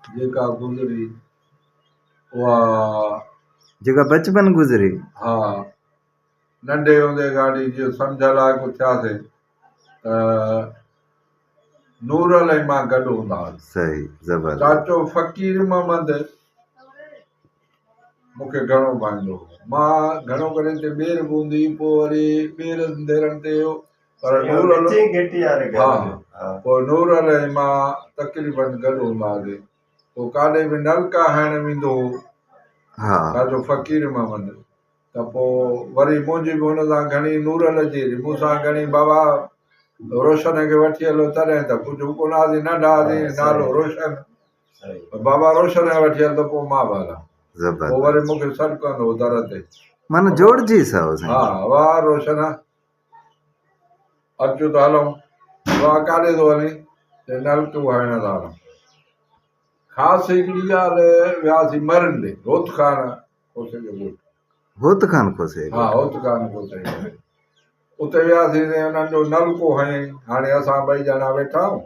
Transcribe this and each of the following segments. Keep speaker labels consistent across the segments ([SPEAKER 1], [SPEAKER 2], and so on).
[SPEAKER 1] جيڪا گذري اها
[SPEAKER 2] جيڪا بچپن گذري ها
[SPEAKER 1] ننڍي هوندي گاڏي جيئن سمجهه لائق ٿياسين ته نورل ۽ مان گڏ هوندا هئاسين صحيح زبردست
[SPEAKER 2] چاچو فقير
[SPEAKER 1] محمد مون کي گهڻو ڀانئيندو هو. مان گهڻو ڪري اتي ٻير به هوندي هئي، پوء وري ٻير انديرڻ تي اهو پر نور علي ڪچي گهٽي واري گهر ها ۾ ها پوء نور علي ۽ مان تقريباً گڏ هوندا هئاسين. پوء ڪاڏي به نلڪا هڻڻ ويندو هو ها
[SPEAKER 2] ڇا جو فقير
[SPEAKER 1] محمد ته پوء وري منهنجي به هن سان گهڻي نور علي جي هيري مون سان گهڻي بابا روشن کي وٺي هلو تڏهن ته ڪجهه هو ڪونه هئاسين ننڍا هئاسين ها صحيح نالو روشن بابا روشن آيا وٺي هل ته پوء مان به هلان زبردست پوء وري مون کي سڏ ڪندو هو در تي من جوڙجي
[SPEAKER 2] سائو سائين ها واه
[SPEAKER 1] روشن اچو ته هلون واه ڪاڏي ٿو هلين چئي نلڪو هڻڻ ٿا هلون خاص هڪڙي ڳالهه وياسي مرن ڏي هوت خان کوسي جو ڳوٺ هوت خان
[SPEAKER 2] کوسي ها
[SPEAKER 1] هوت خان کوسي اتي وياسي انهن جو نلڪو هنيائين هاڻي اسان ٻئي ڄڻا ويٺا آهيون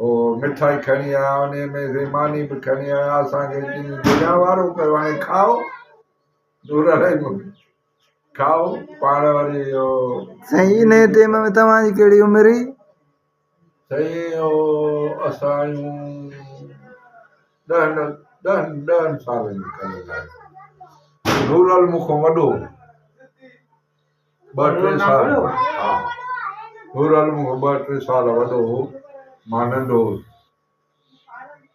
[SPEAKER 1] هو مٺائي کڻي آيا، انهيء ۾ سين ماني به کڻي آيا، اسان کي ڏني، درياء وارو ڪيو، هاڻي کائو، نور علي به کائو، پاڻ وري اهو. سائين انهيء
[SPEAKER 2] ٽيم ۾ توهان جي ڪهڙي عمر هئي؟ سائين اهو
[SPEAKER 1] اسان جون ڏهن ڏهن ڏهن سالن جي کن عمر آهي، نور علي مون کان وڏو هو. ٻه ٽي سال ها نورعالم مون کان ٻه ٽي سال وڏو هو مان ننڍو هوس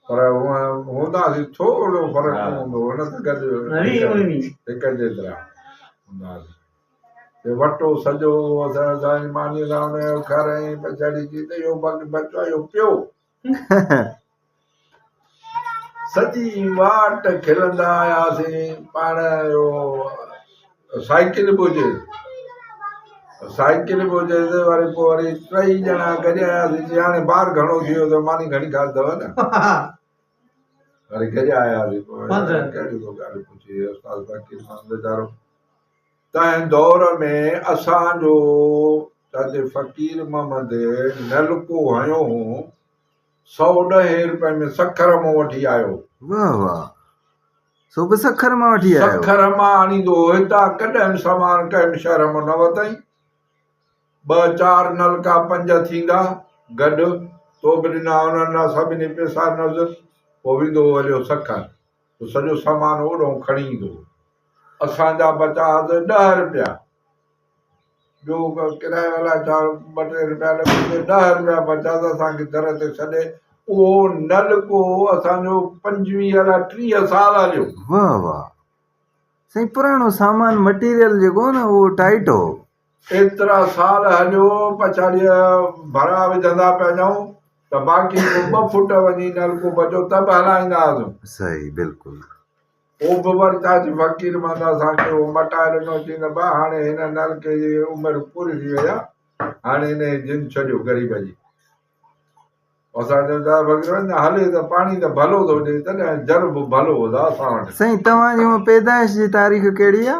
[SPEAKER 1] پر هونئن هونداسين ٿورو فرق نه هوندو هو نه ته گڏ هڪ جيترا هونداسين جو وٽو سڄو هو اسان سائين ماني لاء ان جو گھر ۽ پڇاڙي جي ته اهو بچو اهو پيو سڄي واٽ کلندا آياسين پاڻ اهو سائيڪل به هجي سائيڪل به هجي ته وري پوء وري ٽئي ڄڻا گڏ آياسين جي هاڻي بار گهڻو ٿي ويو ته ماني گهڻي کاڌي اٿو نه وري گڏ آياسين پوء ڪهڙي ڪو ڳالهه پڇي استاد فقير مان ويچارو تنهن دور ۾ اسان جو جتي فقير محمد نلڪو هنيو هو سو ڏهين روپئي ۾ سکر مان وٺي آيو. واهه واهه
[SPEAKER 2] سو به سکر مان وٺي آيو. سکر مان آڻيندو
[SPEAKER 1] هو هتان ڪڏهن سامان ڪنهن شهر مان نه وتائين. ٻه چار نلڪا پنج ٿيندا گڏ تو به ڏنا هوندا سڀني پئسا نذر پوء ويندو هو هليو سکر. هو سڄو سامان اوڏهون کڻي ايندو هو. اسان جا بچا حد ڏهه رپيا. ٻيو ڪرايو الائي ڇا ٻه ٽي رپيا لڳي ته ڏهه رپيا بچا ته اسان کي در تي ڇڏي اهو نلڪو اسان جو پنجويهه الائي ٽيهه سال هليو. واهه واهه
[SPEAKER 2] سائين پراڻو سامان مٽيريل جيڪو هو نه اهو ٽائيٽ هو ايترا
[SPEAKER 1] سال هليو پڇاڙيء ڀرا وجهندا پيا وڃون ته باقي ڪو ٻه فوٽ وڃي نلڪو بچو ته به هلائيندا هئاسون. صحيح بلڪل.
[SPEAKER 2] پوء به
[SPEAKER 1] وري تاج فقير محمد اسان کي اهو مٽائي ڏنو چيائين ته ڀاء هاڻي هن نلڪي جي عمر پوري ٿي وئي آهي هاڻي هن جي جن ڇڏيو غريب جي اسان چيو تاج فقير محمد نه هلي ته پاڻي ته ڀلو ٿو ڏئي تڏهن جر به ڀلو هودا اسان وٽ سائين توهان جي هونء
[SPEAKER 2] پيدائش جي تاريخ ڪهڙي آهي؟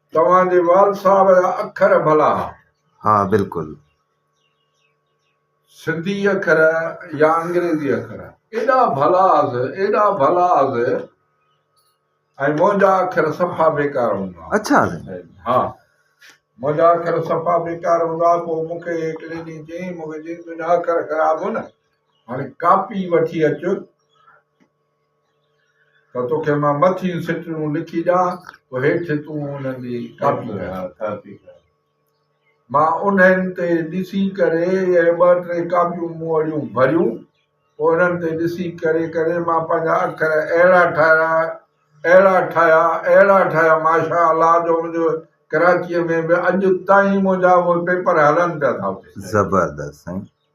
[SPEAKER 2] توهان جي
[SPEAKER 1] وال صاحب جا اکر ڀلا. ها
[SPEAKER 2] بلڪل.
[SPEAKER 1] سنڌي اکر يا انگريزي اکر ايڏا ڀلا از ايڏا ڀلا از ۽ منهنجا اکر صفا بيڪار هوندا اچھا ها منهنجا اکر صفا بيڪار هوندا پو مون کي هڪ ليڊي چيائين مون کي چيائين تنهنجا اکر خراب هو نه هاڻي ڪاپي وٺي اچ ته توکي مان مٿيون سٽرون لکي ڏيان پوء هيٺ تون انهن جي ڪاپي ڪر. مان انهن تي ڏسي ڪري اهي ٻه ٽي ڪاپيون مون وڙيون ڀريون پوء انهن تي ڏسي ڪري ڪري مان پنهنجا اکر اهڙا ٺاهيا اهڙا ٺاهيا اهڙا ٺاهيا ماشاء الله جو منهنجو ڪراچيء ۾ به اڄ تائين منهنجا اهي پيپر هلن پيا ٿا اتي. زبردست سائين.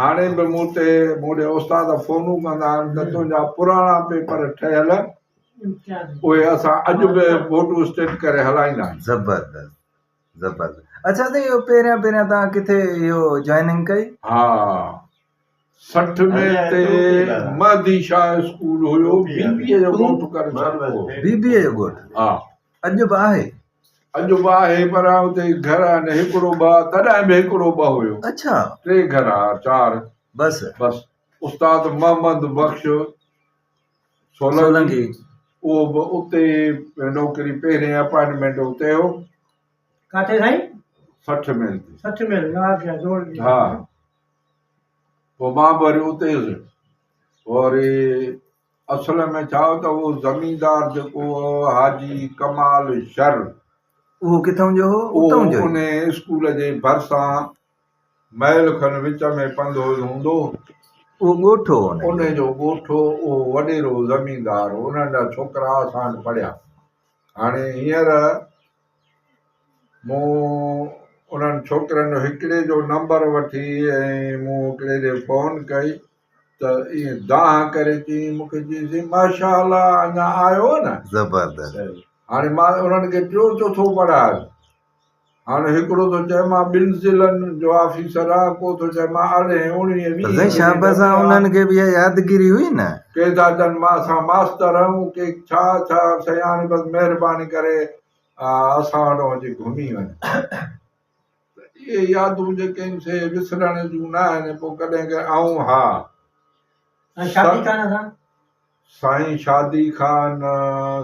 [SPEAKER 2] هاڻي به
[SPEAKER 1] مون تي مون ڏي استاد فونون ڪندا آهن ته تنهنجا پراڻا پيپر ٺهيل اهي اسان اڄ به فوٽو اسٽيٽ ڪري هلائيندا آهيون زبردست
[SPEAKER 2] زبردست اچھا ته اهو پهريان پهريان توهان ڪٿي اهو جوائننگ ڪئي ها
[SPEAKER 1] سٺ ۾ تي مهدي شاهه اسڪول هيو بي بي اي جو ڳوٺ ڪري ڇڏبو بي بي اي جو ڳوٺ
[SPEAKER 2] ها اڄ
[SPEAKER 1] به آهي
[SPEAKER 2] اڄ به
[SPEAKER 1] آهي پر اتي گهر آهن هڪڙو ٻه تڏهن به هڪڙو ٻه هيو اڇا ٽي گهر
[SPEAKER 2] آ
[SPEAKER 1] چار بس بس
[SPEAKER 2] استاد
[SPEAKER 1] محمد بخش سولنگي اهو به اتي نوڪري پهرين اپائنٽمينٽ اتي هو ڪاٿي
[SPEAKER 3] سائين سٺ ميل
[SPEAKER 1] تي سٺ ميل
[SPEAKER 3] ها
[SPEAKER 1] پوء مان به وري اتي هيس وري اصل ۾ ڇا هو ته اهو زميندار جيڪو هو حاجي ڪمال شر. اهو
[SPEAKER 2] ڪٿئون جو هو؟ اتئون جو ئي. اهو انهيء اسڪول جي
[SPEAKER 1] ڀرسان ميل کن وچ ۾ پنڌويل هوندو هو. اهو
[SPEAKER 2] ڳوٺ هو انهيء جو. انهيء جو ڳوٺ
[SPEAKER 1] هو. اهو وڏيرو زميندار هو. انهن جا ڇوڪرا اسان وٽ پڙهيا. هاڻي هينئر مون انهن ڇوڪرن جو هڪڙي جو نمبر وٺي ۽ مون هڪڙي ڏي فون ڪئي. ته ائين دانهن ڪري چيائين مون کي چيائينسين ماشاء الله اڃا آيو نه زبردست
[SPEAKER 2] هاڻي مان
[SPEAKER 1] انهن کي ٽيو چوٿو پڙهايس هاڻي هڪڙو ٿو چئي مان ٻن ضلعن جو آفيسر آهيان ڪو ٿو چئي مان ارڙهين اوڻيهين ويهين سائين شاباس آ انهن
[SPEAKER 2] کي به اها يادگيري هئي نه ڪي ٿا چن مان
[SPEAKER 1] اسان ماستر آهيون ڪي ڇا ڇا سائين هاڻي بس مهرباني ڪري اسان وٽ اچي گهمي وڃ ته اهي يادون جيڪي ان سي وسرڻ جون نه آهن پو ڪڏهن ڪڏهن آئون ها شادي خان سان
[SPEAKER 3] سائين
[SPEAKER 1] شادي خان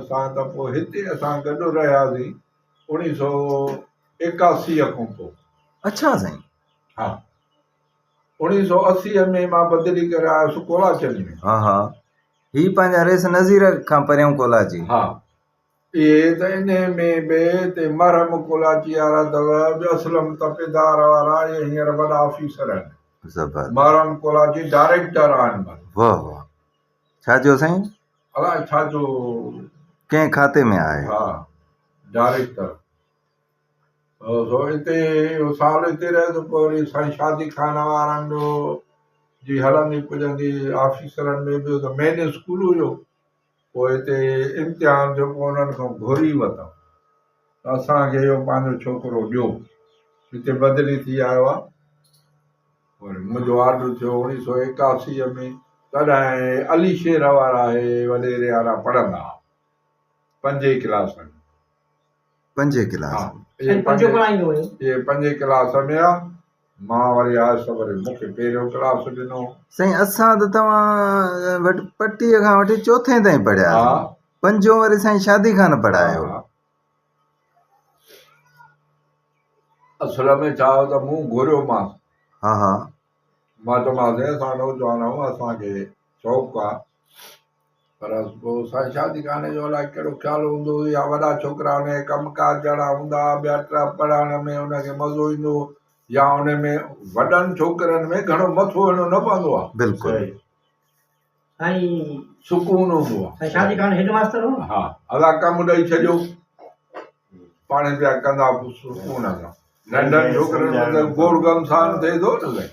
[SPEAKER 1] سان ته پو هتي اسان گڏ رهياسين اوڻي سو ايڪاسي کان پو اڇا سائين
[SPEAKER 2] ها
[SPEAKER 1] اوڻي سو اسي ۾ مان بدلي ڪري آيس ڪولاچن ۾ ها ها
[SPEAKER 2] هي پنهنجا ريس نظير کان پريون ڪولاچي ها
[SPEAKER 1] اهي ته انهيء ۾ به تي مرحم ڪولاچي وارا اٿو جو اسلم تپيدار وارا اهي هينئر وڏا آفيسر آهن زبردست مرحم ڪولاچي ڊائريڪٽر آهن ڀلا واه واه
[SPEAKER 2] ڇا چيو سائين الاء ڇا جو
[SPEAKER 1] ڪنهن
[SPEAKER 2] کاتي ۾ آهي ها
[SPEAKER 1] ڊائريڪٽر سو اتي اهو سال اتي رهيو ته پوء وري سائين شادي خان وارن جو جي هلندي پڄندي آفيسرن ۾ به ته مين اسڪول هيو پوء تي امتحان ٿيو پوء انهن کان گهري وتان ته اسان کي اهو پنهنجو ڇوڪرو ڏيو هتي بدلي ٿي آيو آهي وري منهنجو آرڊر ٿيو اوڻيهه سؤ ايڪاسي ۾ تڏهن علي شير وارا اهي وڏيري وارا پڙهندا هئا پنجين ڪلاسن پنجين ڪلاس ۾ آ. مان وري آيس ته وري مون کي پهريون ڪلاس ڏنو. سائين اسان ته
[SPEAKER 2] توهان وٽ پٽي کان وٺي چوٿين تائين پڙهياسين. پنجون
[SPEAKER 1] وري
[SPEAKER 2] سائين شادي خان پڙهايو.
[SPEAKER 1] اصل ۾ ڇا هو ته مون گهريومانس.
[SPEAKER 2] مان چيومانس
[SPEAKER 1] سائين اسان نوجوان آهيون اسان کي شوق آ. پر پوء سائين شادي خاني جو الائي ڪهڙو خيال هوندو هو يا وڏا ڇوڪرا ان کي ڪم ڪار جهڙا هوندا ها ٻيا ٽيا پڙهائڻ ۾ ان کي مزو ايندو هو يا ان ۾ وڏن ڇوڪرن ۾ گهڻو مٿو هڻيو نه پوندو
[SPEAKER 2] ها
[SPEAKER 1] بلڪل سائين
[SPEAKER 3] سڪون هوندو
[SPEAKER 1] ها سائين شادي خان هيڊ ماستر هو ها ادا ڪم ڏئي ڇڏيو پاڻي پيا ڪندا سڪون هوندا ننڍن ڇوڪرن ۾ گوڙ گم سان ٿئي ٿو نه سائين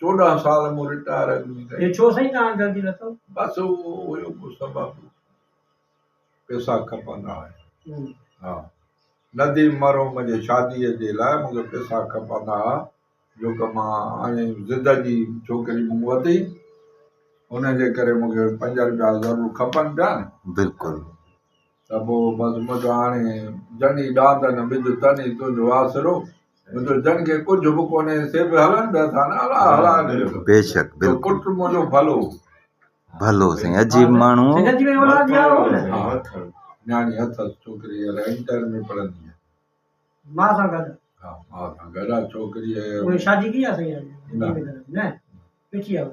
[SPEAKER 1] چوڏهن سال مون رٽائر اڳمي ڪئي. هي ڇو سائين تهان
[SPEAKER 3] جلدي لٿو. بس اهو
[SPEAKER 1] هيو ڪو سبب پيسا کپندا هيا ها نديم مرحوم جي شادي جي لاء مونکي پيسا کپندا ها جو ڪه مان آهيان زده جي ڇوڪري مون وتي ان جي ڪري مونکي پنج رپيا ضرور کپن پيا نه بلڪل.
[SPEAKER 2] ته
[SPEAKER 1] پوء بس منهنجو هاڻي جن ئي ڏاند نه ٻڌ تن ئي تنهنجو آسرو منهنجو جن کي ڪجهه به ڪونهي سي به هلن پيا ٿا نه هلا هلا بيشڪ
[SPEAKER 2] بلڪل پٽ منهنجو ڀلو
[SPEAKER 1] ڀلو
[SPEAKER 2] سائين عجيب ماڻهو
[SPEAKER 3] نياڻي
[SPEAKER 1] اٿس ڇوڪري هينئر انٽر ۾ پڙهندي آهي ماء سان
[SPEAKER 3] گڏ ها ماء سان
[SPEAKER 1] گڏ ڇوڪري شادي ڪئي آهي سائين نه نه پيٺي
[SPEAKER 3] آهي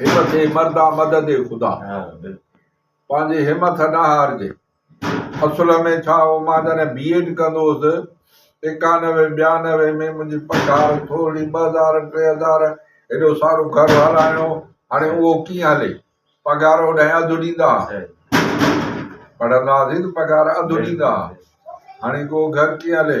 [SPEAKER 1] همٿ اي مردا مدد اي خدا. پنهنجي همٿ نه هارجي. اصل ۾ ڇا هو مان جڏهن بي ايڊ ڪندو هوس ايڪانوي ٻيانوي ۾ منهنجي پگهار ٿورڙي ٻه هزار ٽي هزار هيڏو سارو گهر هلائڻو هاڻي اهو ڪيئن هلي پگهار اوڏهين اڌ ڏيندا ها پڙهندا هئاسين ته پگهار اڌ ڏيندا ها هاڻي اهو گهر ڪيئن هلي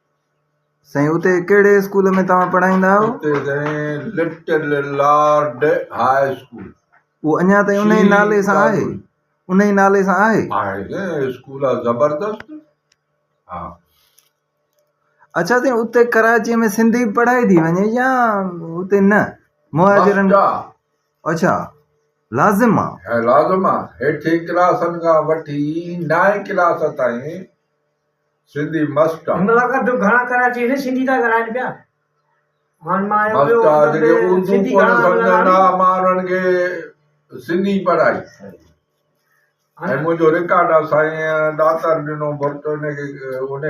[SPEAKER 2] سائين اتي ڪهڙي اسڪول ۾ توهان پڙهائيندا آهيو؟ اتي سائين
[SPEAKER 1] لٽل لارڊ هاء اسڪول. اهو اڃا تائين انهي نالي
[SPEAKER 2] سان آهي؟ انهي نالي سان آهي؟ آهي سائين اسڪول آهي
[SPEAKER 1] زبردست
[SPEAKER 2] ها. اڇا سائين اتي ڪراچي ۾ سنڌي پڙهائي ٿي وڃي يا اتي نه مهاجرن مفت آ. اڇا لازم آ. هي لازم آ هيٺين
[SPEAKER 1] ڪلاسن کان وٺي نائين ڪلاس تائين سنڌي مست آ جيڪي
[SPEAKER 3] اردو ڪونه
[SPEAKER 1] سمجهن
[SPEAKER 3] ها
[SPEAKER 1] مان
[SPEAKER 3] انهن
[SPEAKER 1] کي سنڌي پڙهائي ۽ منهنجو رڪارڊ آ سائين ڏاتر ڏنو ڀرٽ ان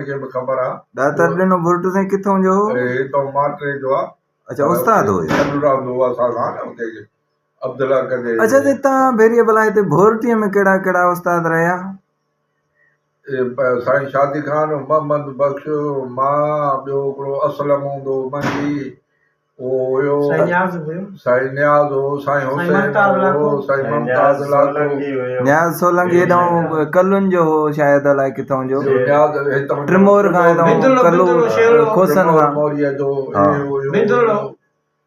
[SPEAKER 1] کي به خبر آ ڏاتر ڏنو ڀرٽ
[SPEAKER 2] سائين ڪٿون جو هو هي اتو
[SPEAKER 1] ماٽري
[SPEAKER 2] جو آ
[SPEAKER 1] اچا استاد هو اهي
[SPEAKER 2] گڏ
[SPEAKER 1] رهندو هو اسان سان
[SPEAKER 2] اتي
[SPEAKER 1] عبدالله ڪجي اچا تون ڀيري
[SPEAKER 2] بلا هتي ڀورٽي ۾ ڪهڙا ڪهڙا استاد رهيا
[SPEAKER 1] سائين شادي خان، محمد بخش، مان، ٻيو هڪڙو اسلم هوندو هو منجي اهو هيو،
[SPEAKER 3] سائين نياز هو،
[SPEAKER 1] سائين نياز هو، سائين حسين هو، سائين ممتاز لاکو، نياز سولنگي
[SPEAKER 2] هيڏانهن ڪلن جو هو شايد الائي ڪٿان جو نياز هتان جو
[SPEAKER 1] ٽرمور کان هيڏانهن
[SPEAKER 2] ڪلو کسن کان.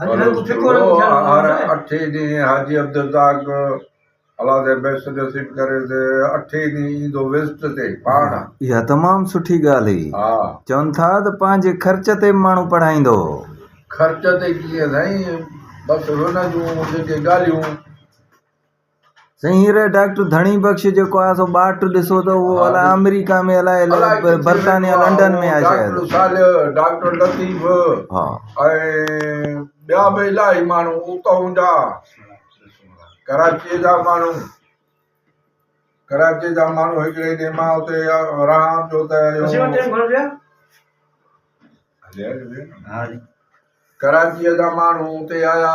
[SPEAKER 3] هر اٺي
[SPEAKER 1] ڏينهن حاجي عبدالرزاق الله تي بيست نصيب ڪري ته اٺي ڏينهن ايندو وزٽ تي پاڻ. اها تمام
[SPEAKER 2] سٺي ڳالهه هئي. چون ٿا
[SPEAKER 1] ته
[SPEAKER 2] پنهنجي خرچ تي به ماڻهو پڙهائيندو هو. خرچ
[SPEAKER 1] تي ڪيئن سائين بس هن جون جيڪي ڳالهيون.
[SPEAKER 2] سائين هينئر ڊاڪٽر ڌڻي بخش جيڪو آهي سو ٻاٽ ڏسو ته اهو الاء آمريڪا ۾ الاء برطانيا لنڊن ۾ آهي شايد ڊاڪٽر صالح ڊاڪٽر
[SPEAKER 1] لطيف ها
[SPEAKER 2] ۽
[SPEAKER 1] ٻيا به الاهي ماڻهو اتون جا ڪراچيء جا ماڻهو ڪراچيء جا ماڻهو هڪڙي ڏينهن مان اتي رهان پيو ته ڪراچيء جا ماڻهو اتي آيا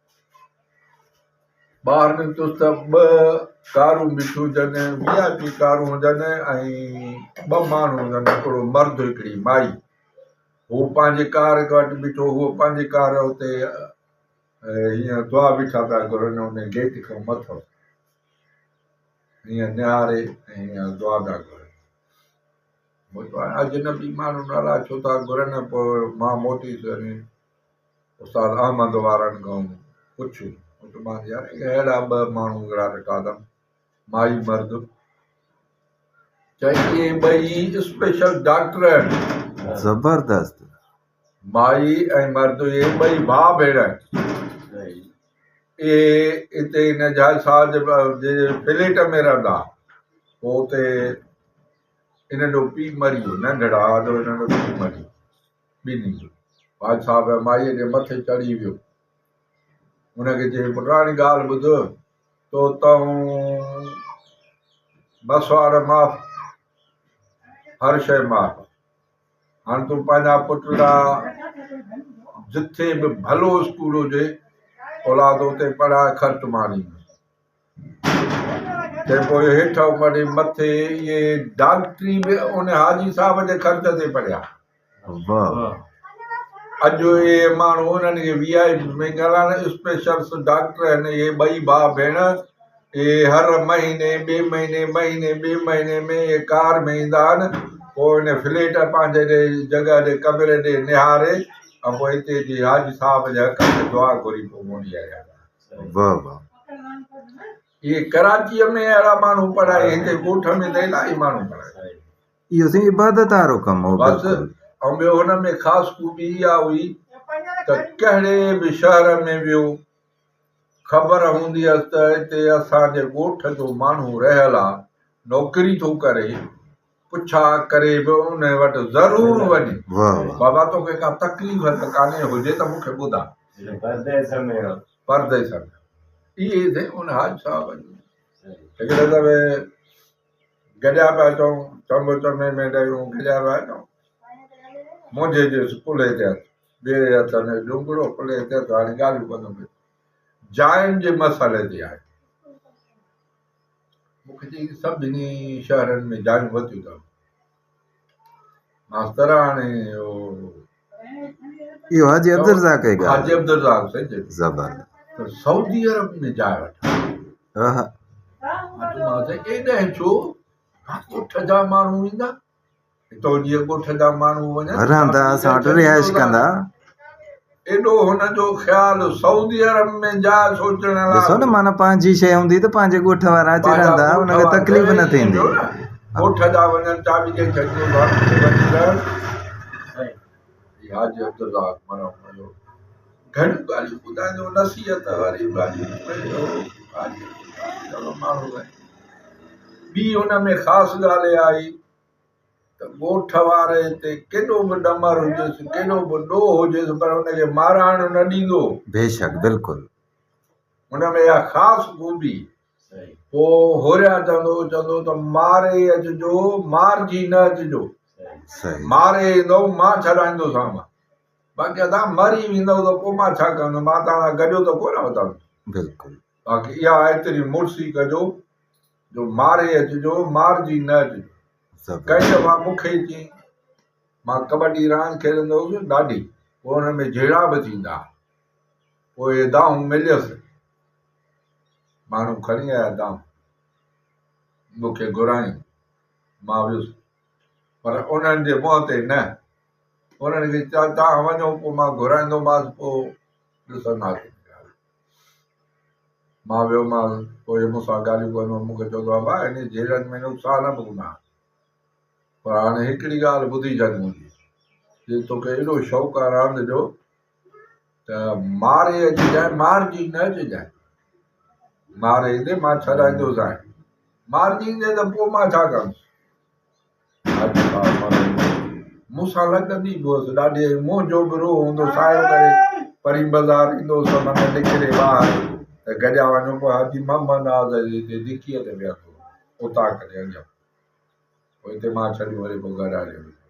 [SPEAKER 1] ٻاهر نڪتس ته ٻه ڪارون بيٺيون هجن، وي آء پي ڪارون هجن ۽ ٻه ماڻهو هجن، هڪڙو مرد هڪڙي مائي. هو پنهنجي ڪار وٽ بيٺو هو پنهنجي ڪار اتي هيئن دعا بيٺا پيا گهرن ان گيٽ کان مٿو هيئن نهاري هيئن دعا پيا گهرن مون چيو اجنبي ماڻهو ناراض ڇو ٿا گهرن پوء مان موٽي ٿو وڃي استاد احمد وارن کان پڇ اٽمان يار ڪي اهڙا ٻه ماڻهو وڙها ڏٺاٿم مائي مرد چيائين اهي ٻئي اسپيشل ڊاڪٽر آهن زبردست
[SPEAKER 2] مائي
[SPEAKER 1] ۽ مرد اهي ٻئي ڀاء ڀيڻ آهن اهي اتي هن جهاز صاحب جي فليٽ ۾ رهندا پوء اتي هنن جو پيء مري ويو ننڍڙا جو هنن جو پيء مري ويو ڏني. بادشاهه به مائيء جي مٿي چڙهي ويو. هن کي چيائين، پٽاڻي ڳالهه ٻڌ، تو تئون مسواڙ معاف، هر شيء معاف آهي. هاڻ تون پنهنجا پٽ لاء جتي به ڀلو اسڪول هجي، اولاد اتي پڙهاء، خرچ مانيندس. تنهن پوء هيٺ امڙي مٿي اهي ڊاڪٽري به ان حاجي صاحب جي خرچ تي پڙهيا. اڄ اهي ماڻهو انهن کي وي آء پي ۾ ڳڻڻ، اسپيشلس ڊاڪٽر هن اهي ٻئي ڀاء ڀيڻ اهي هر مهيني ٻئي مهيني مهيني ٻئي مهيني ۾ اهي ڪار ۾ ايندا آهن پوء ان فليٽ پنهنجي ڏي جڳهه ڏي ڪمري ڏي نهاري ۽ پوء هتي جي حاجي صاحب جي حق ۾ دعا گهري پوء موٽي آيا. واه واه. اهي ڪراچيء ۾ اهڙا ماڻهو پڙهائي هتي ڳوٺ ۾ ته الاهي ماڻهو پڙهائي. اهو سائين
[SPEAKER 2] عبادت وارو ڪم هو بس بلڪل. ۽ ٻيو
[SPEAKER 1] هن ۾ خاص خوبي اها هئي ته ڪهڙي به شهر ۾ ويو خبر هوندي هيس ته هتي اسان جي ڳوٺ جو ماڻهو رهيل آ نوڪري ٿو ڪري. پڇا ڪري به ان وٽ ضرور وڃ. بابا توکي ڪا تڪليف ته ڪانهي، هجي ته مون کي ٻڌاء. پرديس ۾. پرديس ۾. اهي سائين ان حاجي صاحب جون. هڪڙي دفعي گڏيا پيا اچون، چمبو چمي ۾ ڏيون، گڏيا پيا اچون. منهنجي جي ڪلهي تي هٿ، ٻئي هٿ ۾ ڏونگڙو، ڪلهي تي هٿ، هاڻي ڳالهيون ٻڌو. جاين جي مسئلي تي آيو. مون کي چيائين، سڀني شهرن ۾ جايون ورتيون اٿم. ماستر هاڻي
[SPEAKER 2] اهو حاجي عبدالرزاق کي ڳالهه حاجي عبدالرزاق سيد
[SPEAKER 1] زبر
[SPEAKER 2] سعودي
[SPEAKER 1] عرب ۾ جاء وٺا اها ايڏا ڇو ٺجا ماڻهو ايندا رهندا اسان وٽ رهائش
[SPEAKER 2] ڪندا.
[SPEAKER 1] ڏسو نه معنيٰ پنهنجي
[SPEAKER 2] شيء هوندي ته پنهنجي ڳوٺ وارا اچي رهندا انهن کي تڪليف نه ٿيندي.
[SPEAKER 1] ته ڳوٺ واري تي ڪيڏو به ڏمر هجيس ڪيڏو به ڏوهه هجيس پر ان کي مارائڻ نه ڏيندو بيشڪ بلڪل
[SPEAKER 2] ان
[SPEAKER 1] ۾ اها خاص خوبي پو هوريا چوندو هو چوندو ته ماري اچجو مارجي نه اچجو صحيح
[SPEAKER 2] ماري ايندو
[SPEAKER 1] مان ڇڏائيندو سامان باقي ادا مري ويندو ته پو مان ڇا ڪندو مان تان گڏيو ته ڪو نه وتان بلڪل باقي
[SPEAKER 2] اها
[SPEAKER 1] ايتري مڙسي ڪجو جو ماري اچ جو مارجي نه اچ ڪئين دفعا مون کي چين مان ڪٻڊي راند کيڏندو هوس ڏاڍي پوء ان ۾ جهيڙا به ٿيندا پوء اهي دانهون مليس ماڻهو کڻي آيا دانهون مون کي گهرايون مان ويس پر انهن جي منهن تي نه انهن کي چيو توهان وڃو پوء مان گهرائيندوماس پوء ڏسنداسين مان ويومانس، پوء مون سان ڳالهيون ڪندو هو، مون کي چوندو هو، امان انهيء جهيڙن ۾ نقصان نه ڀوڳندا آهن، پر هاڻي هڪڙي ڳالهه ٻڌي ڇڏ منهنجي، جي توکي ايڏو شوق آهي راند جو ته ماري اچجانء، مارجي نه اچجانء، ماري ايندي مان ڇڏائيندوسانء، مارجي ايندي ته پوء مان ڇا ڪندس؟ اڄ ڀاء مرڻ ۾ مون سان لڳندي به هئس ڏاڍي ۽ منهنجو به روح هوندو سايو ڪري پرين بازار ايندو هوس ته من نڪري ٻاهر ته گڏيا وڃون پوء حاجي محمد ناز جي هتي دڪيء تي ويهندو هو اوطاق تي اڃان پوء هتي مان ڇڏيون وري پوء گهر هليو ويندو هو.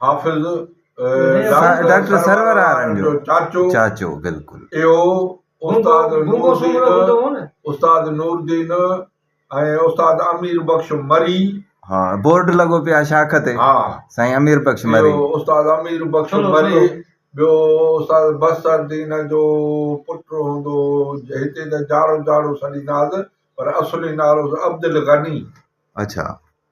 [SPEAKER 1] حافظ
[SPEAKER 2] ڊاڪٽر سرورارن جو چاچو اهو استاد
[SPEAKER 1] نوردين استاد نوردين ۽ استاد امير بخش مري ها بورڊ
[SPEAKER 2] لڳو پيو آهي شاخ تي ها سائين امير
[SPEAKER 1] بخش
[SPEAKER 2] مري استاد امير
[SPEAKER 1] بخش مري ٻيو استاد بصر دين جو پٽ هوندو هتي ته جاڙو جاڙو سڏيندا هئس پر اصلي نالو عبدالغني اڇا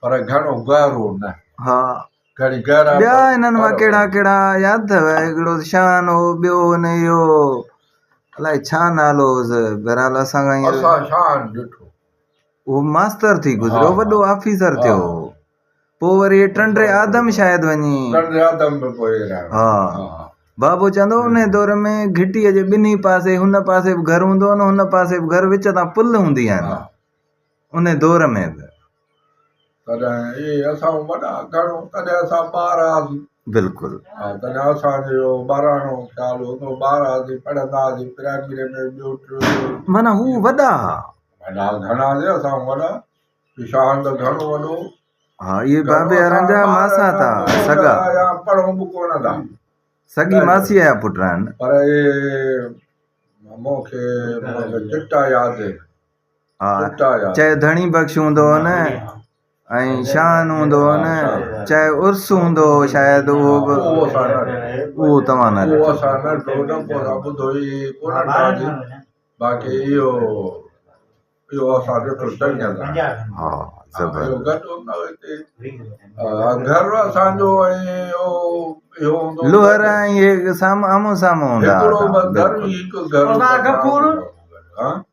[SPEAKER 1] پر گهڻو گهرو
[SPEAKER 2] نه.
[SPEAKER 1] ها گهڻي گهرا ٻيا انهن مان ڪهڙا
[SPEAKER 2] ڪهڙا ياد اٿو هڪڙو ته شان هو ٻيو هن اهو الائي
[SPEAKER 1] ڇا
[SPEAKER 2] نالو هوس بهرحال اسان کان اسان شان ڏٺو اهو ماستر ٿي گذريو وڏو آفيسر
[SPEAKER 1] ٿيو
[SPEAKER 2] پو وري ٽنڊي آدم شايد وڃي ٽنڊي آدم به پوء
[SPEAKER 1] ها
[SPEAKER 2] بابو چوندو ان دور ۾ گهٽي جي ٻنهي پاسي هن پاسي به گهر هوندو هن پاسي به گهر وچ تان پل هوندي آهن ان دور ۾ به. تڏهن
[SPEAKER 1] اهي اسان وڏا گهڻو تڏهن اسان ٻار هئاسين. بلڪل. ها
[SPEAKER 2] تڏهن اسان
[SPEAKER 1] جو اهو ٻاراڻو خيال هو ته ٻار هئاسين پڙهندا هئاسين پرائمري ۾ ٻيو ٽيون چئون. معنيٰ هو وڏا
[SPEAKER 2] ها. وڏا
[SPEAKER 1] گهڻا نه اسان وڏا شاهه ته گهڻو وڏو هو. ها اهي
[SPEAKER 2] بابي هارن جا ماسات ها سڳا. يا پڙهون به ڪونه
[SPEAKER 1] ٿا. سڳي ماسيء
[SPEAKER 2] جا پٽ آهن. پر اهي
[SPEAKER 1] مون کي چٽا ياد آهن.
[SPEAKER 2] چاهي ڌڻي بخش هوندو هو نه ۽ شان هوندو هو نه چاهي عرس هوندو هو شايد اهو به اهو توهان
[SPEAKER 1] نه
[SPEAKER 2] ڏٺو
[SPEAKER 1] ها
[SPEAKER 2] لوهر ۽ هي سام آمهون سامهون هوندا هئا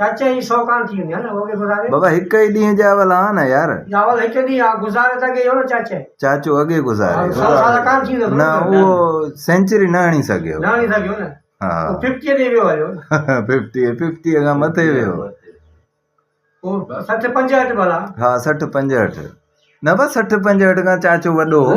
[SPEAKER 3] بابا هڪ ئي ڏينهن جا
[SPEAKER 2] اول آهان نه يار.
[SPEAKER 3] چاچو اڳي
[SPEAKER 2] گذاريو.
[SPEAKER 3] نه اهو
[SPEAKER 2] سينچري نه هڻي سگهيو.
[SPEAKER 3] ها ففٽيء تي
[SPEAKER 2] ويو هليو.
[SPEAKER 3] ففٽيء ففٽيء
[SPEAKER 2] کان مٿي ويو. سٺ
[SPEAKER 3] پنجهٺ ڀلا. ها سٺ پنجهٺ.
[SPEAKER 2] نه بس سٺ پنجهٺ کان چاچو وڏو هو.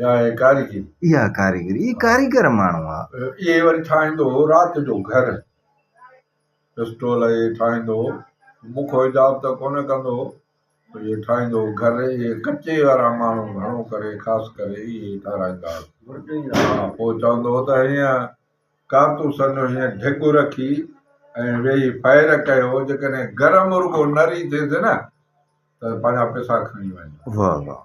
[SPEAKER 2] يا هي ڪاريگري. اها ڪاريگري. هي ڪاريگر ماڻهو آ. اهي وري ٺاهيندو
[SPEAKER 1] هو رات جو گهر. پسٽول اهي ٺاهيندو هو. مون کان حجاب ته ڪونه ڪندو هو. اهي ٺاهيندو هو گهر. اهي ڪچي وارا ماڻهو گهڻو ڪري خاص ڪري اهي ئي ٺاهرائيندا هئا. پوء چوندو هو ته هينئن ڪارتوسن جو هينئن ڍڳ رکي ۽ ويهي فائر ڪيو. جيڪڏهن گرم رڳو نري ٿيس نه ته پنهنجا پئسا کڻي وڃ. واهه واهه.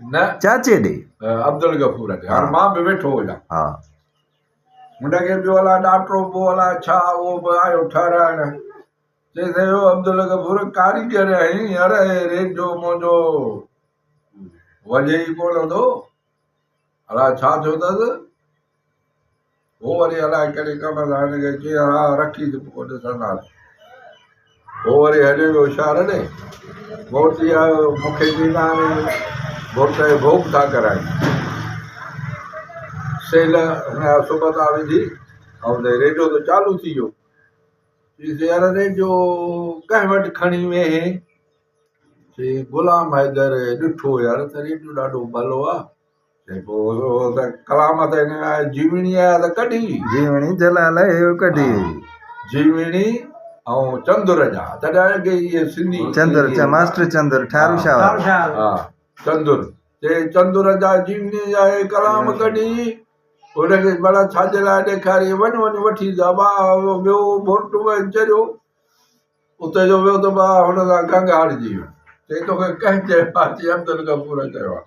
[SPEAKER 2] نه
[SPEAKER 1] چاچي ڏي
[SPEAKER 2] عبدالغفور
[SPEAKER 1] کي هاڻ مان به ويٺو هجان ها هن کي ٻيو الا ڏاٽرو بو الا ڇا اهو به آيو ٺهرائڻ چيس اهو عبدالغفور ڪاريگر آهين يار اهي ريڊيو منهنجو وجهي ئي ڪونه ٿو الا ڇا ٿيو اٿس هو وري الائي ڪهڙي ڪم سان هن کي چيائين، ها رکي ته پوء ڏسنداسين. هو وري هليو ويو شهر ڏي. ڀوتي آيو، مون کي ڏيندا ني، ڀوت کي ڀوڳ ٿا ڪرائين. سيل هن جا سبتا وجهي ۽ چيائين، ريڊيو ته چالو ٿي ويو. چيس، يار ريڊيو ڪنهن وٽ کڻي ويهين؟ چيائين، غلام حيدر ڏٺو يار ته ريڊيو ڏاڍو ڀلو آ. جيڪو ته ڪلام ته هن ۾ جيوڻي آيا ته ڪڍي
[SPEAKER 2] جيوڻي
[SPEAKER 1] جلال اهو
[SPEAKER 2] ڪڍي جيوڻي
[SPEAKER 1] ۽ چندر جا تڏهن اڳي اهي سنڌي چندر چا ماستر
[SPEAKER 2] چندر ٺارو شاهه ٺارو شاهه ها
[SPEAKER 3] چندر
[SPEAKER 1] چي چندر جا جيوني جا اهي ڪلام ڪڍي ان کي بلا ڇا جي لاء ڏيکاري وڃ وڃ وٺي دبا ويو بورٽ ۾ چريو اتي جو ويو ته با هن سان گنگ هارجي ويو چي توکي ڪنهن چيو آهي چي عبد الغفور چيو آهي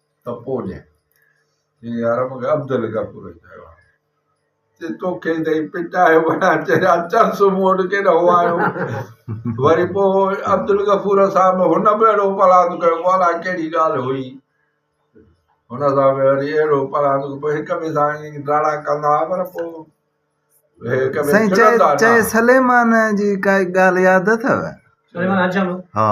[SPEAKER 1] ته پوء ڏي. جنهن جي عرب کي عبد الغفور چيو آهي. چي توکي ته هي پٽائي وڏا چريا چرس مون وٽ ڪيڏا هو آيو وري پوء عبد الغفور صاحب هن به اهڙو پلاند ڪيو پوء الاء ڪهڙي ڳالهه هئي هن سان به وري اهڙو پلاند ڪيو پوء هڪ ٻئي سان ائين ڊاڙا ڪندا هئا پر پوء هڪ ٻئي
[SPEAKER 2] سائين چئي ڇڙندا نه چئي هئا. سليمان جي ڪائي ڳالهه ياد اٿو سليمان حجم ها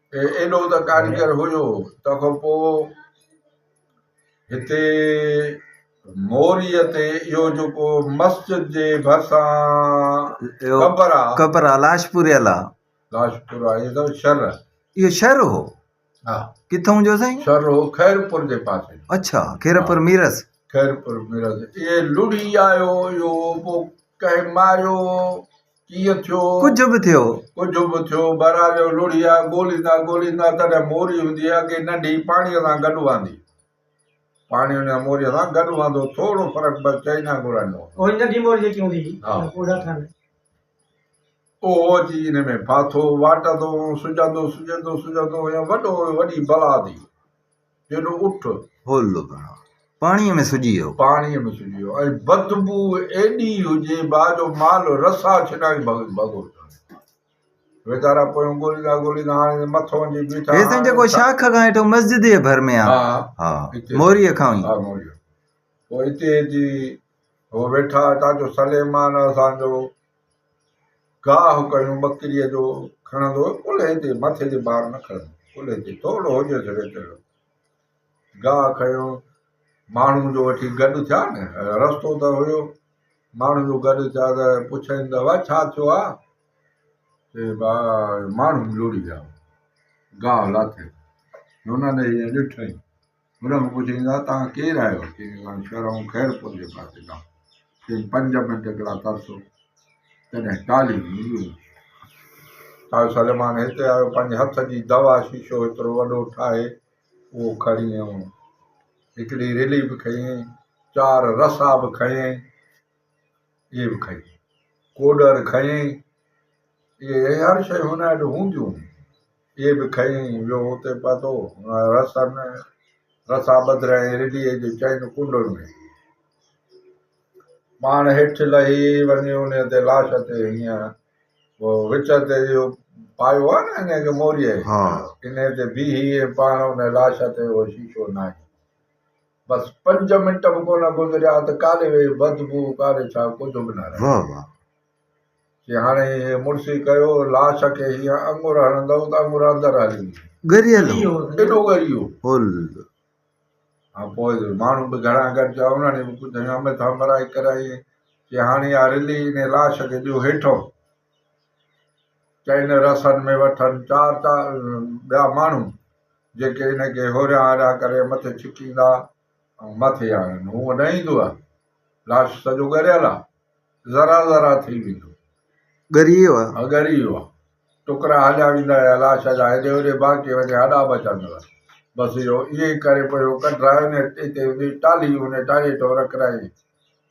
[SPEAKER 1] ايڏو ته ڪاريگر هيو تنهن کان پوء هتي موريء تي اهو جيڪو مسجد جي ڀرسان قبر آ
[SPEAKER 2] قبر آ لاشپوري الا لاشپور آ اهو
[SPEAKER 1] شهر اهو شهر هو
[SPEAKER 2] ها
[SPEAKER 1] ڪٿون جو سائين
[SPEAKER 2] شهر هو خيرپور
[SPEAKER 1] جي پاسي اچھا خيرپور
[SPEAKER 2] ميرس خيرپور ميرس
[SPEAKER 1] اهي لڙي آيو اهو ڪهي ماريو ڪيئن ٿيو. ڪجهه به ٿيو.
[SPEAKER 2] ڪجهه به ٿيو بهرحال جو لوڙهي
[SPEAKER 1] آ ڳوليندا ڳوليندا تڏهن موري هوندي اڳي ننڍي پاڻيء سان گڏ وهندي. پاڻي ان موريء سان گڏ وهندو ٿورو فرق بس چئنا گهوڙن جو هوندو. اهڙي ننڍي موري جيڪي هوندي هئي ها. ان پوڙها ٿن. اهو اچي ان ۾ ڦاٿو واٽندو هو سجهندو سجهندو سجهندو هيو وڏو هيو وڏي بلا ٿي. جيڏو اٺ. هولو گهڻو
[SPEAKER 2] پاڻيء ۾ سجي ويو. پاڻيء ۾ سجي ويو
[SPEAKER 1] ۽ بدبوء ايڏي هجي با جو مال رسا ڇنائي ڀڳو ٿيو وڃي. ويچارا پويون ڳوليندا ڳوليندا هاڻي ته مٿ وڃي بيٺا. هي سائين جيڪو شاخ کان
[SPEAKER 2] هيٺئون مسجد جي ڀر ۾ آ. ها ها اتي. موريء کان ئي. ها موريء کان.
[SPEAKER 1] پوء اتي اچي هو ويٺا هتان جو سليمان اسان جو. گاهه ڪيون ٻڪريء جو کڻندو ڪلهي تي مٿي تي بار نه کڻندو ڪلهي تي ٿورڙو هجي سگهي تهڙو گاهه کيو ماڻهو جو وٺي گڏ ٿيا نه رستو ته هيو ماڻهو جو گڏ ٿيا ته پڇائين ته وا ڇا ٿيو آ چي با ماڻهو لوڙي ويا گاهه لاٿي هن ڏٺئي هن کان پڇيائين ته توهان ڪير آهيو؟ چيائين ته اسان شهرائون خيرپور جي پاسي کان. چيائين پنج منٽ هڪڙا ترسو. تڏهن ٽالهيون مليون. ٽالهيون سليمان هتي آيو پنهنجي هٿ جي دوا شيشو هيترو وڏو ٺاهي اهو کڻي آيو. هڪڙي رلي به کنيائين، چار رسا به کنيائين، اهي به کائي. ڪوڏر کنيائين. اهي هر شيء هن اڏ هونديون هيون. اهي به کڻي ويو اتي پهتو رسن رسا ٻڌري ۽ رڍيء جي چئن ڪنڊن ۾. پاڻ هيٺ لهي وڃي انهيء تي لاش تي هينئن وچ تي اهو پايو آهي نه انهيء کي موريء انهيء تي بيهي ۽ پاڻ ان لاش تي اهو شيشو ناهي. بس پنج منٽ به ڪونه گذريا ته ڪاري ويهي بدبوء ڪاري ڇا ڪجهه به نه رهيو. چي هاڻي هيء مڙسي ڪيو، لاش کي هيئن اڱر هڻندئو ته اڱر اندر هلي ويندي. ڳريل هو. ايڏو ڳريو هو. هان پوء ماڻهو به گهڻا گڏجا، انهن به ڪجهه هيامي ٿامرائي ڪرائي، چي هاڻي اها رلي انهيء لاش کي ڏيو هيٺئون، چئن رسن ۾ وٺن چار چار ٻيا ماڻهو، جيڪي ان کي هوريان هوريان ڪري مٿي ڇڪيندا ۽ مٿي آڻن. هونء نه ايندوء، لاش سڄو ڳريل آهي. ذرا ذرا ٿي ويندو. ڳري ويو
[SPEAKER 2] آ. ها ڳري ويو آ.
[SPEAKER 1] ٽڪرا هليا ويندا يا لاش جا هيڏي هوڏي باقي وڃي هڏا بچندا هئا. بس اهو ائين ئي ڪري پوء هو ڪڍرائي ان اتي هوندي ٽالهي ان ٽالهي هيٺ هو رکرايائين.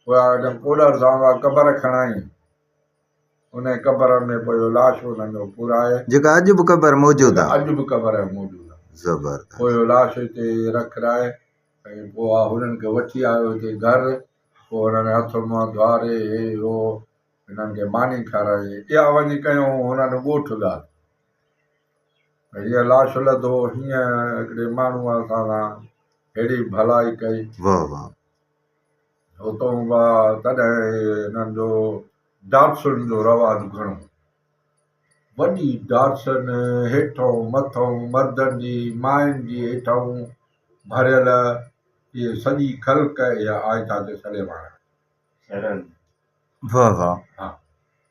[SPEAKER 1] پوء آء ان ڪوڏر سان اها قبر کڻائين. ان قبر ۾ پوء اهو لاش انهن جو پورائي. جيڪا اڄ به قبر
[SPEAKER 2] موجود آ. اڄ به قبر موجود
[SPEAKER 1] آ. زبردست. پوء اهو لاش
[SPEAKER 2] اتي
[SPEAKER 1] رکرائي ۽ پوء آء هنن کي وٺي آيو هتي گهر. پوء هنن هٿ منهن ڌوئاري هي هو هنن کي ماني کارائي اها وڃي ڪيائون هنن ڳوٺ ڳالهه هيء لاش لڌو هينئن هڪڙي ماڻهوء اسان سان ههڙي ڀلائي ڪئي.
[SPEAKER 2] واهه
[SPEAKER 1] واهه. هتون با تڏهن هنن جو ڊاٽسن جو رواج گهڻو هو. وڏي ڊاٽسن هيٺئون مٿئون مردن جي ماين جي هيٺئون ڀريل هيء سڄي خلق اها آهي ڇا جو سڙي واڻ سڙن. واھ
[SPEAKER 2] واھ ها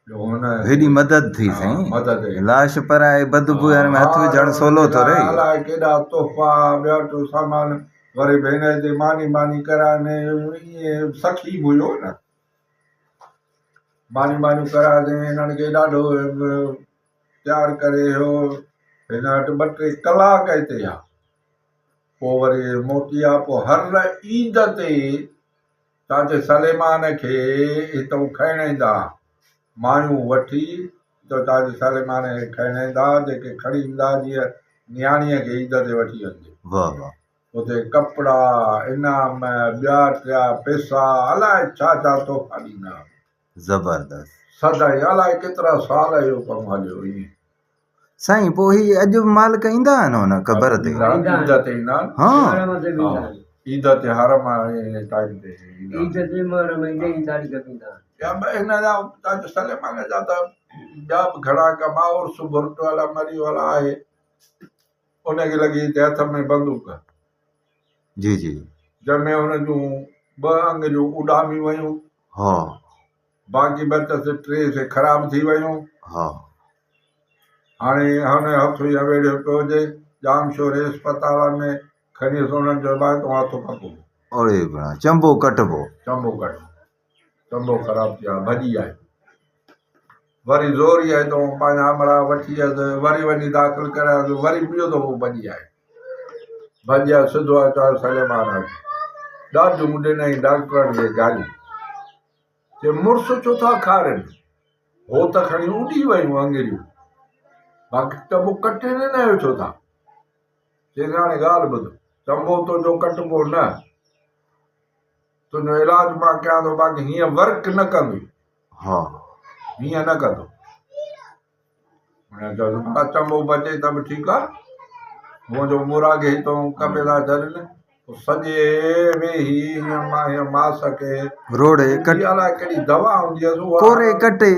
[SPEAKER 1] جو هن هيڏي مدد
[SPEAKER 2] ٿي سائين ها مدد هيڏي. لاش
[SPEAKER 1] پرائي
[SPEAKER 2] بد بوء ۾ هٿ وجهڻ سولو ٿو رهي. الاء ڪيڏا تحفا
[SPEAKER 1] ٻيا ٽيو سامان وري ڀينر هتي ماني ٻاني ڪرائي ۾ ائين سخي به هيو نه ماني ٻانيون ڪرائي تي هنن کي ڏاڍو تيار ڪري هيو هن وٽ ٻه ٽي ڪلاڪ هتي ها پوء وري موٽي آ، پوء هر عيد تي چاچي سليمان کي هتئون کڻڻ ايندا ها، مايون وٺي هتئون چاچي سليمان کي کڻڻ ايندا ها، جيڪي کڻي ايندا ها جيئن نياڻيء کي عيد تي وٺي وڃجي. واهه واهه.
[SPEAKER 2] اتي ڪپڙا،
[SPEAKER 1] انعام، ٻيا ٽيا پيسا، الائي ڇا ڇا تحفا ڏيندا ها. زبردست.
[SPEAKER 2] سدائين الائي
[SPEAKER 1] ڪيترا سال اهو ڪم هليو ائين. سائين پوء
[SPEAKER 2] هي اڄ به مالڪ ايندا آهن هن قبر تي. عيد تي ايندا آهن.
[SPEAKER 1] ها. عيد تي هر ماهي ٽائيم تي ايندا آهن. عيد تي محرم ايندي ئي تاڙي ڪپيندا آهن. ٻيا به هن جا تاج سليمان جا ته ٻيا به گهڻا ڪم آهن عرس ڀرٽ والا مري والا آهي ان کي لڳي هتي هٿ ۾ بندوق
[SPEAKER 2] جي جي جنهن ۾ هن
[SPEAKER 1] جون ٻه انگ جون اڏاميون ويون ها
[SPEAKER 2] باقي
[SPEAKER 1] ٻه ته سي ٽي سي خراب ٿي ويون ها هاڻي هن هٿ يا ويڙهيو پيو هجي جام شور اسپتال ۾ کڻي انهن جو علاج تون هٿ پڪو اڙي بڻا
[SPEAKER 2] چنبو ڪٽبو چنبو ڪٽبو
[SPEAKER 1] چنبو خراب ٿي آهي ڀڄي آهي وري زور ئي آئي تون پنهنجا آمڙا وٺي اچ وري وڃي داخل ڪراياس وري ٻيو دفعو ڀڄي آئي ڀڄي آئي سڌو آئي چوائي سليمان آئي ڏاڍيون ڏنائين ڊاڪٽرن کي گاريون چي مڙس ڇو ٿا کارين هو ته کڻي اڏي ويون انگريون باقي ٽبو ڪٽي نه آيو ڇو ٿا چيس هاڻي ڳالهه ٻڌ چنبو تنهنجو ڪٽبو نه تنهنجو علاج مان ڪيان ٿو باقي هيئن ورڪ نه ڪندي ها
[SPEAKER 2] هيئن نه
[SPEAKER 1] ڪندو هن چيو بلا چمو به اچي ته به ٺيڪ آ منهنجو مراگي تو ڪپي ٿا ڇڏين سڄي ويهي هيئن ماس کي روڙي ڪٽي
[SPEAKER 2] الاء ڪهڙي
[SPEAKER 1] دوا هوندي هيس ڪوري ڪٽي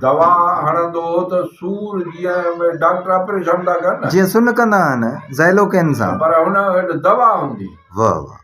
[SPEAKER 2] دوا
[SPEAKER 1] هڻندو هو ته سور جيئن ڊاڪٽر آپريشن ٿا ڪن جيئن سن ڪندا آهن
[SPEAKER 2] زائلوڪين سان پر هن وٽ دوا
[SPEAKER 1] هوندي واهه واهه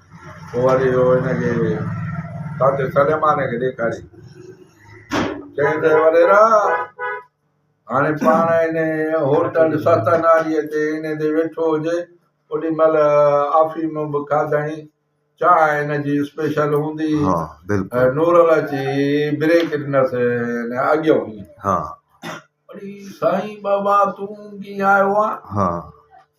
[SPEAKER 1] پوء وري اهو هن کي تاجي سليمان کي ڏيکاري چيائين ته وڏيرا هاڻي پاڻ هن هوٽل ستناريء تي هن تي ويٺو هجي اوڏي مهل آفيم به کاڌائين چانهه هن جي اسپيشل هوندي ها بلڪل
[SPEAKER 2] نورل اچي
[SPEAKER 1] بريڪ ڏنس هن اڳيو هئي ها
[SPEAKER 2] اڙي
[SPEAKER 1] سائين بابا تون ڪيئن آيو آن ها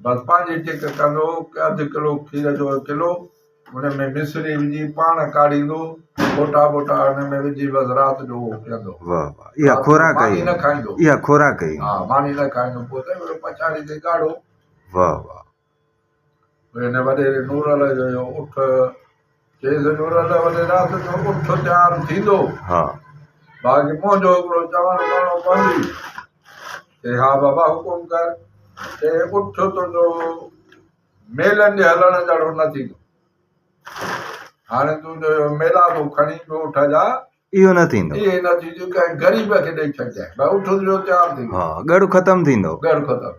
[SPEAKER 1] برپا جي ٽيڪ ڪندو ته اڌ ڪلو کير جو ڪلو ان ۾ مصري وجهي پاڻ ڪاڙهيندو ڦوٽا ٻوٽا ان ۾ وجهي بس رات جو اهو پيئندو واه واه اها
[SPEAKER 2] خوراڪ آهي ماني نه کائيندو اها
[SPEAKER 1] خوراڪ آهي ها
[SPEAKER 2] ماني نه کائيندو
[SPEAKER 1] پوء ته اهو پڇاڙي تي ڳاڙهو واه
[SPEAKER 2] واه
[SPEAKER 1] پوء ان وڏيري نور علي جو اٺ چيس نور
[SPEAKER 2] الله وڏي رات جو
[SPEAKER 1] اٺ تيار ٿيندو ها باقي منهنجو هڪڙو چوڻ ڪرڻو پوندي چي ها بابا حڪم ڪر چي اٺ تنهنجو ميلن جي هلڻ جهڙو نه ٿيندو هاڻي تون جو ميلا ٿو کڻي پيو اٺ جا اهو نه ٿيندو
[SPEAKER 2] اهي نه ٿيندو ڪنهن
[SPEAKER 1] غريب کي ڏيئي ڇڏجانء بس اٺ جو تيار ٿيندو ها ڳڙ ختم ٿيندو
[SPEAKER 2] ڳڙ ختم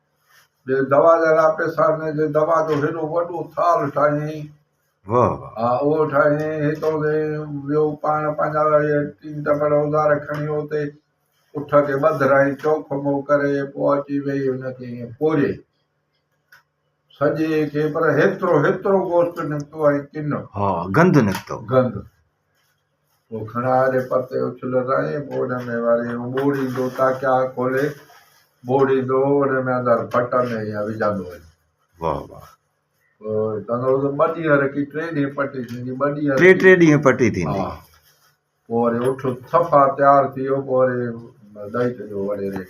[SPEAKER 1] جي دوا جا لا پيسا ۾ جي دوا جو هيڏو وڏو ٿال ٺاهيائين واهه
[SPEAKER 2] واهه ها اهو ٺاهيائين
[SPEAKER 1] هتو تي ويو پاڻ پنهنجا اهي ٽين ٽپڙ اوزار کڻي اتي اٺ کي ٻڌرائين چوک مئو ڪري پوء اچي ويهي ان کي ائين پوري سڄي کي پر هيترو هيترو گوشت نڪتو ۽ ڪن ها گند
[SPEAKER 2] نڪتو گند
[SPEAKER 1] پوء کڻ آري پرتي اڇلو رڻي ٻوڏ ۾ وري هو ٻوڙيندو تاڪيا کولي ٻوڙيندو هو ان ۾ اندر ڦٽ ۾ ايئن وجهندو وڃي واهه واهه
[SPEAKER 2] پوء
[SPEAKER 1] چوندو هو ته ٻه ڏينهن رکي ٽي ڏينهن پٽي ٿيندي ٻه ڏينهن ٽي رکي ٽي ڏينهن پٽي ٿيندي
[SPEAKER 2] ها
[SPEAKER 1] پوء وري اٺ صفا تيار ٿي ويو پوء وري ڏئي ڇڏيو وڙي ريڪ